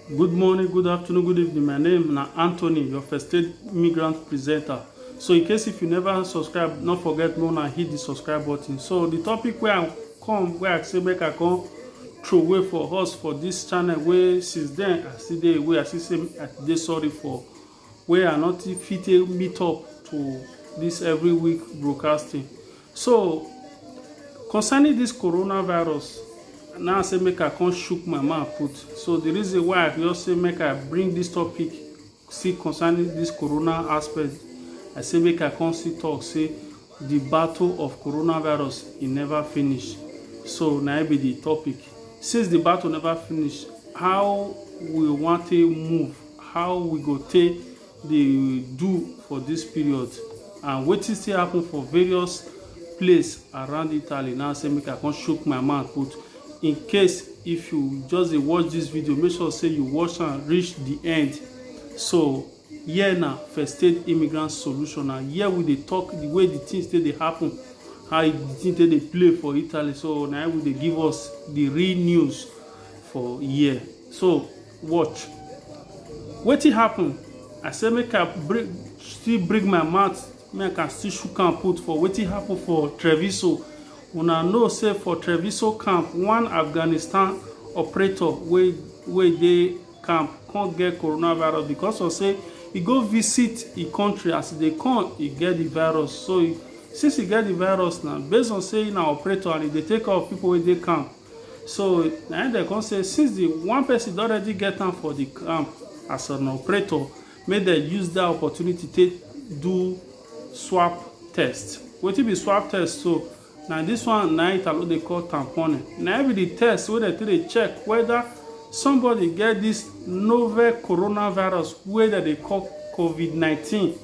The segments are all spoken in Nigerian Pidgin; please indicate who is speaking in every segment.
Speaker 1: Good morning, good afternoon, good evening. My name na Anthony, your first aid migrant presenter. So in case if you never subscribe, not forget no na hit the subscribe button. So the topic where I come, where I say make I come throw away for us for this channel wey since then I still dey away, I still say I dey sorry for where I not fit take meet up to this every week broadcasting. So, concerning this coronavirus, now I say make I come shook my mouth put. So the reason why I just say make I bring this topic, see concerning this corona aspect, I say make I come see talk say the battle of coronavirus e never finish. So na it be the topic. Since the battle never finish, how we want to move, how we go take dey do for dis period and wetin still happen for various place around Italy na say make I come chook my mouth put. In case if you just dey watch dis video make sure say you watch am reach the end. So here na first aid immigrant solution na here we dey talk the way the things take dey happen how the thing take dey play for Italy so na we dey give us the real news for here. So watch wetin happen i say make i bring still bring my mouth make i still shook am put for wetin happen for treviso una know say for treviso camp one afghanistan operator wey wey dey camp come get coronavirus because of say e go visit e country as e dey come e get the virus so since e get the virus now based on say na operator and e dey take care of people wey dey camp So na im dem come say since the one person don already get am for the camp as an operator, make dem use that opportunity take do swab test. Wetin be swab test so? Na this one na Italo dey call tamponing. Na im be the test wey dem take dey check whether somebody get this novel coronavirus wey dem dey call COVID-19.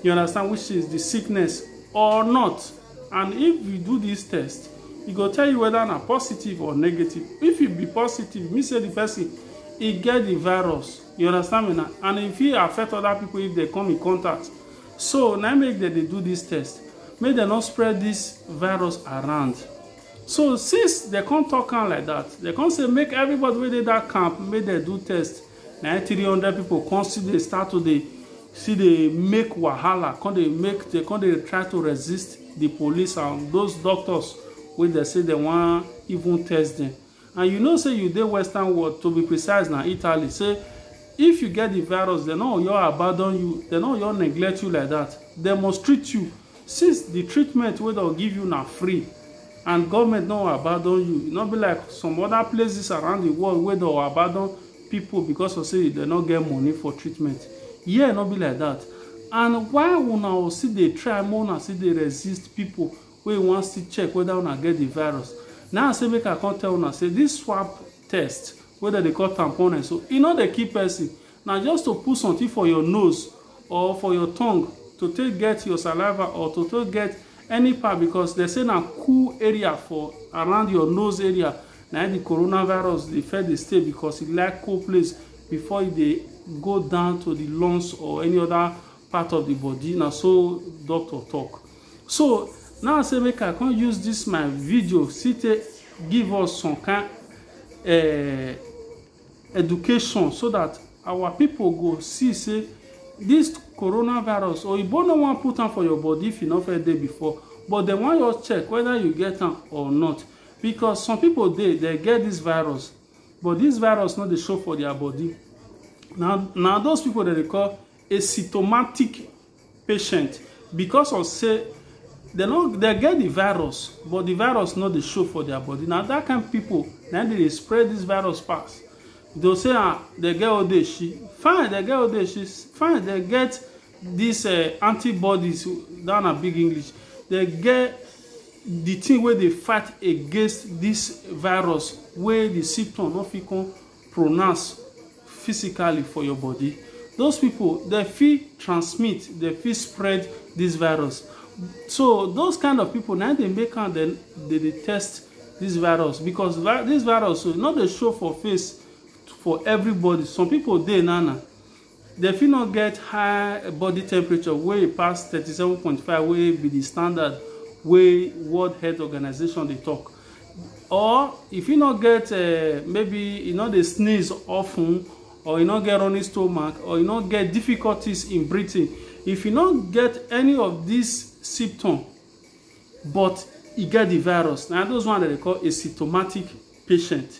Speaker 1: You understand? Which is the sickness or not. and if you do this test e go tell you whether na positive or negative if e be positive mean say the person e get the virus you understand me na and e fit affect other people if they come in contact so na im make dem dey do this test make dem no spread this virus around so since dem come talk am like that dem come say make everybody wey dey that camp make dem do test na im three hundred pipo come still dey start to dey still dey make wahala come dey make dey come dey try to resist di police and those doctors wey dem say dem wan even test dem and you know say you dey western world to be precise na italy say if you get di virus dem no oyo abandon you dem no oyo neglect you like dat dem must treat you Since the treatment wey dem give you na free and government no abandon you, e no be like some other places around the world wey dem abandon people because of say dem no get money for treatment. Here no be like that and why una o still dey try make una still dey resist people wey wan still check whether una get the virus. Na I say make I come tell una say this swab test wey dem dey call tamponne so, e no dey kill person Na just to put something for your nose or for your tongue to take get your saliva or to take get any part because dem say na cool area for around your nose area na im the coronavirus dey first dey stay because e like cool place before e dey go down to the lungs or any other part of the body na so doctor talk so now say make I come use this my video see take give us some kind uh, education so that our people go see say this coronavirus oyibo no wan put am for your body if you no first dey before but dem wan just check whether you get am or not because some people dey they get this virus but this virus no dey show for their body na na those people dem dey call asymptomatic patient because of say dem no dem get the virus but the virus no dey show for their body na that kind people na im dey dey spread this virus pass they'll say ah they get odeshi fine they get odeshi fine they get this uh, antibodies that na big english they get the thing wey dey fight against this virus wey the symptom no fit come pronounce physically for your body those people dem fit transmit dem fit spread this virus so those kind of people na dey make am dem dey dey test this virus because vi this virus so no dey show for face for everybody some people dey now na Dem fit no get high body temperature wey pass thirty seven point five wey be di standard wey World Health Organization dey tok. Or e fit no get um maybe e no dey sneeze of ten or e no get running stomach or e no get difficulties in breathing. If e no get any of dis symptom but e get di virus, na those one dem dey call asymptomatic patient.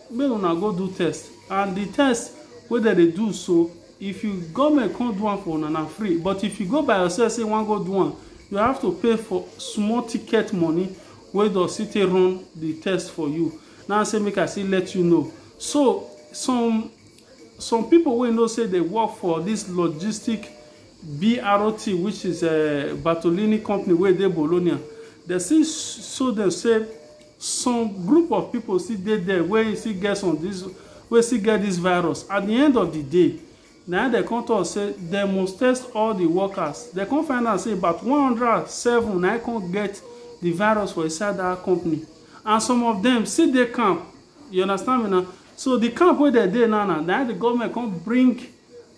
Speaker 1: Make una go do test and the test wey dem dey do so if you government come do am for una na free but if you go by yourself say you wan go do am you have to pay for small ticket money wey does still take run the test for you na say make I still let you know so some some people wey know say they work for this logistic BRT which is eh Bartolini company wey dey Bologna dem still show dem say some group of people still dey there wey still get some this wey still get this virus at the end of the day na im dem come talk say dem must test all the workers dem come find out say about one hundred and seven na im come get the virus for inside that company and some of them still dey camp you understand me na so the camp wey dem dey now na na im the government come bring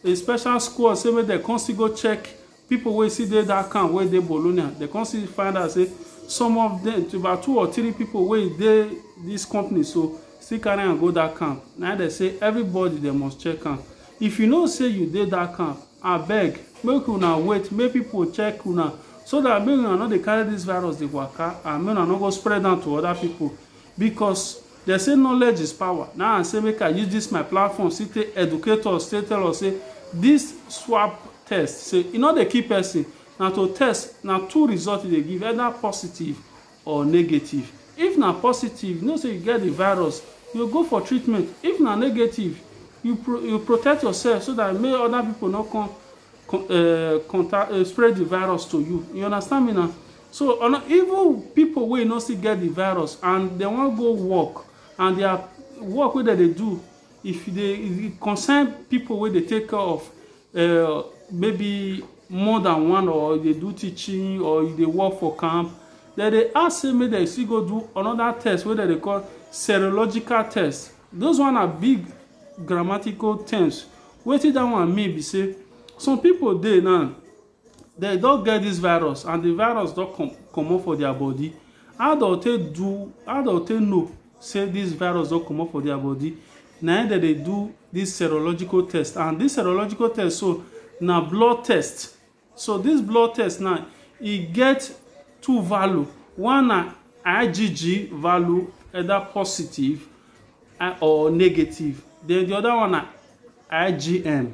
Speaker 1: a special squad say make dem come still go check Pipo wey still dey dat camp wey dey Bologna, dem come still find out say some of dem, about two or three pipo wey dey dis company so, still carry am go dat camp. Na im dem say everybody dem must check am. If you know say you dey dat camp, abeg make una wait make pipo check una so dat make una no dey carry dis virus dey waka and make una no go spread am to oda pipo, because. Dem say knowledge is power, na I say make I use dis my platform still take educate us, take tell us say dis swab test say e no dey kill person, na to test, na two result e dey give, either positive or negative. If na positive, you know say you get the virus, you go for treatment, if na negative, you pro, you protect yourself so dat make other people no come con, um, contact, spread the virus to you, you understand me na. So ono even pipo wey no still get di virus and dem wan go work and dia work wey dem dey do if e dey e concern pipo wey dey take care of um maybe more than one or you dey do teaching or you dey work for camp dem dey ask say make dem still go do anoda test wey dem dey call serological test those one na big grammatical terms wetin dat one mean be say some pipo dey now Dem don get dis virus and di virus don com comot for dia bodi. How dem take do how dem take know say dis virus don comot for dia bodi? Na im dem dey do dis serological test and dis serological test so na blood test. So dis blood test now e get two value. One na IgG value either positive or negative. Den di oda one na IgM.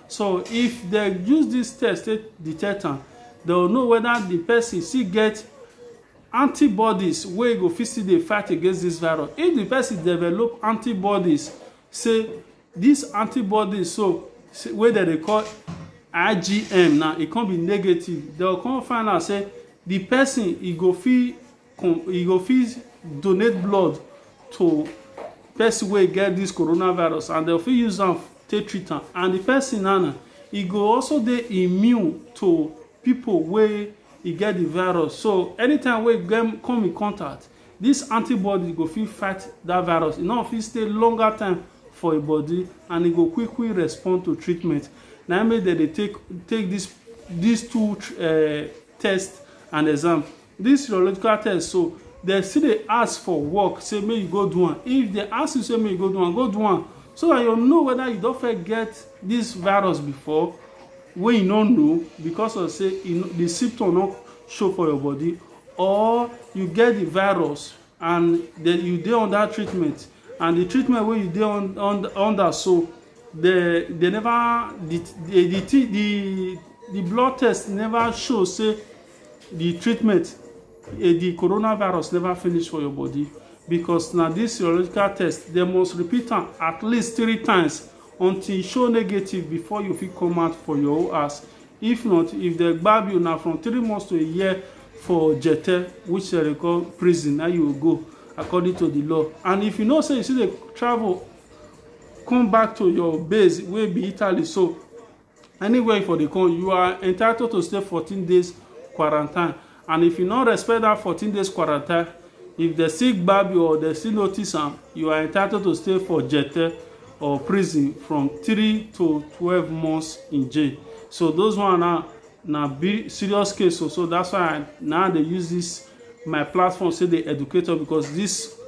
Speaker 1: So if they use this test to detect am, they will know whether the person still get antibodies wey go fit still dey fight against this virus. If the person develop antibodies, say these antibodies so say, wey dem dey call IgM now, e come be negative, they will come find out say the person e go fit you go fit donate blood to person wey get this coronavirus and dem fit use am take treat am and the person na na e go also dey immune to people wey e get the virus so anytime wey dem come in contact this antibody go fit fight that virus e no fit stay longer time for im body and e go quick quick respond to treatment na im make dem dey take take this these two uh, test and exam this serological test so dem still dey ask for work say make you go do am if dem ask you say make you go do am go do am so that you know whether you don first get this virus before wey you no know because of say you know, the symptom no show for your body or you get the virus and the, you dey under treatment and the treatment wey you dey on, on, under so the they never the the the, thi- the the blood test never show say the treatment eh, the coronavirus never finish for your body because na this serological test they must repeat am at least three times until e show negative before you fit come out for your own house If not, if dem gbab you na from three months to a year for Jete, which they dey call prison, na you go according to the law. And if you know say you still dey travel come back to your base wey be Italy so anywhere for the come you are entitled to stay 14 days quarantine And if you no respect that 14 days quarantine, if they still gbab you or they still notice am, you are entitled to stay for jete or prison from 3 to 12 months in jail. So those one are na big serious case so, so that's why I, now they use this my platform say the educator because this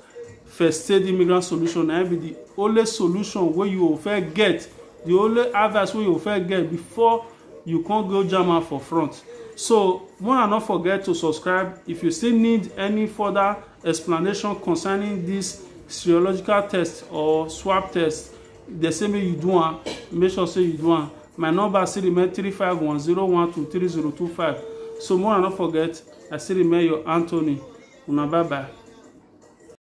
Speaker 1: first aid immigrant solution na be the only solution wey you go fit get the only advice wey you go fit get before you can't go jama for front so wanna not forget to subscribe if you still need any further explanation concerning this serological test or swab test they say make you do one make sure say you do one my number still remain three five one zero one two three zero two five so wanna not forget i still remain your anthony una bye bye